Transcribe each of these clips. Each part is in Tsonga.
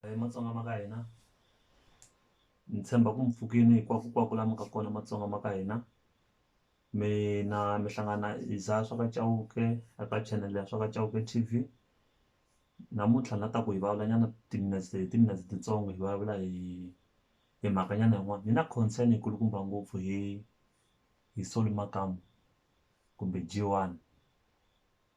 Hi Matsonga ma ka hina ni tshemba ku mi pfukini hinkwakukwako la mi ka kona Matsonga ma ka hina mi na mi hlangana hi za swa ka Chauke a ka channel ya swa ka Chauke T_V namuntlha ni la ta ku hi vulavula nyana timinetse hi timinetse titsongo hi vulavula hi hi mhaka nyana yin'wana ni na concern yi kulukumba ngopfu hi hi Solly Makamu kumbe G_one.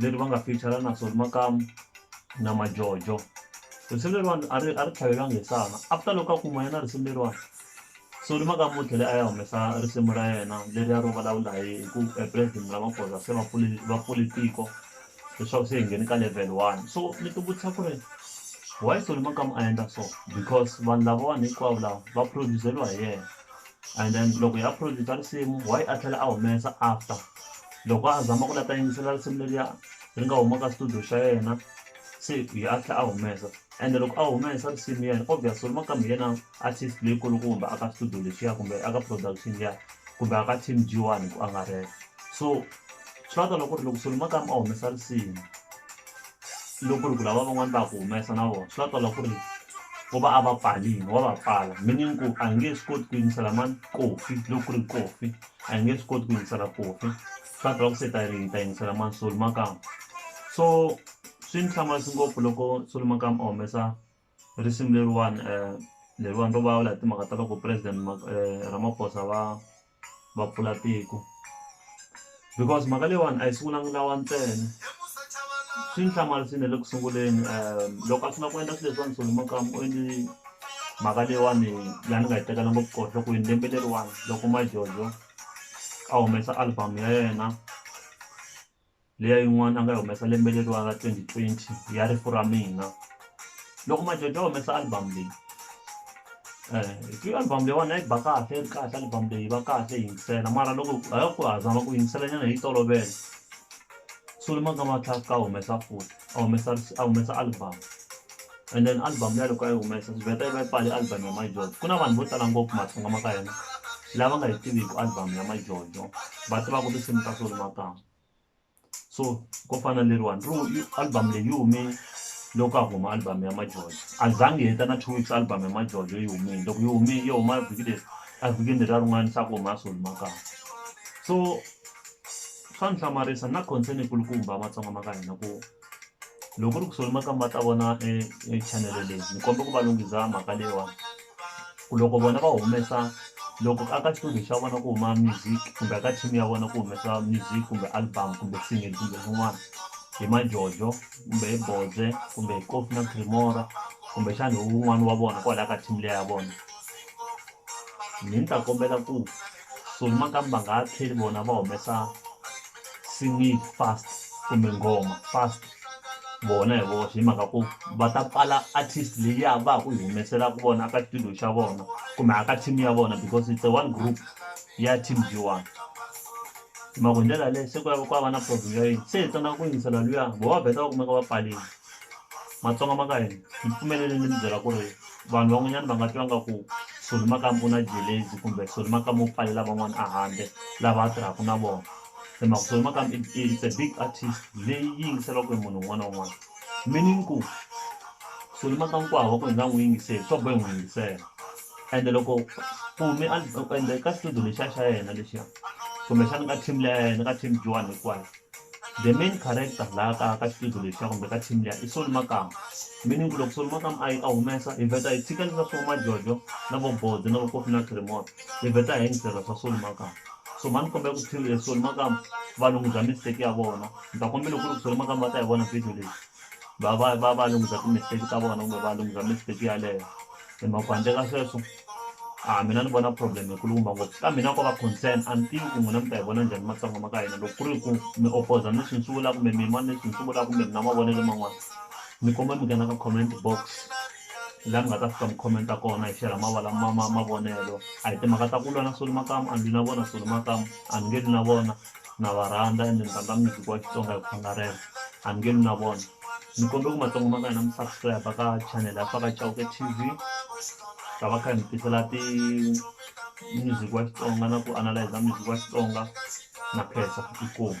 leri va nga feature-a na Solly Makamu na Majojo. Risimu leriwani a ri a ri tlhavelanga hi sana after loko a ku huma yena risimu leriwani Solly Makamu u tlhele a ya humesa risimu ra yena leriya ro vulavula hi hi ku President Ramaphosa se va pfule va pfule tiko leswaku se hi nghene ka level one so ni ti vutisa ku ri why Solly Makamu a endla so because vanhu lavawani hinkwavo lava va produce-liwa hi yena and then loko hi upload-a tinsimu why a tlhela a humesa after loko a zama ku la ta yingisela risimu leriya ri nga huma ka studio xa yena se hi a tlhela a humesa ende loko a humesa risimu yena obvious ri maka mi yena artist leyi kulukumba a ka studio lexiya kumbe a ka production liya kumbe a ka team G one hi ku angarhela so swi lava ta loko ku ri loko Solly Makamu a humesa risimu loko ku ri ku lava van'wani va ku humesa na vona swi nga twala ku ri u va a va pfarile wa va pfala meaning ku a nge swi koti ku yingisela mani kofi loko ku ri kofi a nge swi koti ku yingisela kofi swi nga twala ku se ta ri ta yingisela mani solo makamu so swi ni hlamarisa ngopfu loko solo makamu a humesa. risimu leriwani leriwani ro vulavula hi timhaka ta loko president Ramaphosa va va pfula tiko because mhaka leyiwani a yi sungula ni lawa ntsena swi ni hlamarisile le ku sunguleni loko a sungula ku endla swilo leswiwani Solly Makamu u endli mhaka leyiwani la ni nga yi tekela ngopfu koho nhlokweni lembe leriwani loko Majojo a humesa album ya yena. liya yin'wana a nga yi humesa lembe leriwani ra twenty twenty ya rifu ra mina loko Majojo a humesa album leyi i album leyiwani a yi ba kahle yi ri kahle album leyi va kahle yi yingisela mara loko ha ku ha zama ku yingisela nyana hi yi tolovela sungule Matlakla a humesa futhi. a humesa a humesa album and then album liya loko a yi humesa swi vheta yi va yi pfale album ya majojo ku na vanhu vo tala ngopfu matsonga ma ka hina lava nga yi tiviki album ya majojo va tivaka tinsimu ta solo makama so ko fana leriwani ri album leyi yi hume loko a huma album ya majojo a zangi heta na two weeks album ya majojo yi humile loko yi humile yi huma vhiki leri a vhikini leriya rin'wana se a ku huma ya solo makama so swa ni hlamarisa na concern yi kulukumba matsonga ma ka hina ku loko ku ri ku solomakamba ma ta vona e channel leyi ni komba ku va lunghiza mhaka leyiwani ku loko vona va humesa loko a ka xitudio xa vona ku huma music kumbe ka team ya vona ku humesa music kumbe album kumbe single kumbe swin'wana hi majojo kumbe hi boze kumbe hi kofi na cremora kumbe xana hi wun'wani wa vona kwalaya ka team leya ya vona ni ni ta kombela ku so nakambe va nga ha tlheli vona va humesa single fast kumbe nghoma fast vona hi voxe hi mhaka ku va ta pfala artist leyi ya va ha ku yi humeselaka vona aka xitudio xa vona kumbe aka team ya vona because it's a one group ya team g one hi mhaka hi ndlela yaleyo se ku ya ku va na problem ya yini se hi tsandzaka ku yingisela luya vo va vheta va kumeka va pfarile matsonga ma ka hina hi pfumeleleni ni mi byela ku ri vanhu van'wanyana va nga twa nga ku Soli makamu u na jelezi kumbe Soli makamu u pfalela van'wana a handle lava a tirhaka na vona hi mhaka Soli makamu it's a big artist leyi yi yingiseriwaka hi munhu un'wana na un'wana meaning ku Soli makamu ku hava ku hi nga n'wi yingiseli swa boha hi n'wi yingisela ende loko ku hume ende ka xitudio lexiya xa yena lexiya kumbexana ka team leya yena ka team Joan hinkwayo The main character la ka ka xiphiqo lexiya kumbe ka team liya i Soli Makamu meaning ku loko Soli Makamu a yi a humesa hi vheta hi tshika leswiya swa vo Majojo na vo Bodo na vo Kofi na Chirimoya hi vheta hi yingisela swa Soli Makamu so mhani kombela ku Soli Makamu valunghisa mistake ya vona ni ta kombela ku ri Soli Makamu va ta yi vona video leyi va va va va lunghisa ti-mistake ta vona kumbe va lunghisa mistake yaleyo hi mhaka ku handle ka sweswo a mina ni vona problem yi kulukumba ngopfu ka mina ko va concern a ni tivi ku n'wina mi ta yi vona njhani matsonga ma ka hina loko ku ri ku mi opposer ni swi ni swi vula kumbe mi yima ni swi ni swi vula kumbe mi na mavonelo man'wana ni komba mi nghena ka comment box laha mi nga ta fika mi commenta kona hi shera mavala ma ma mavonelo a hi timhaka ta ku lwa na solo makamu a ni lwi na vona solo makamu a ni nge lwi na vona na va rhandza ende ni rhandza music wa Xitsonga hi ku angarhela a ni nge lwi na vona ni kombela ku matsongo ma ka hina mi subscribe ka channel ya Faka Chauke T_V hi ta va kha hi mi tisela ti music wa Xitsonga na ku analyser music wa Xitsonga na khensa inkomu.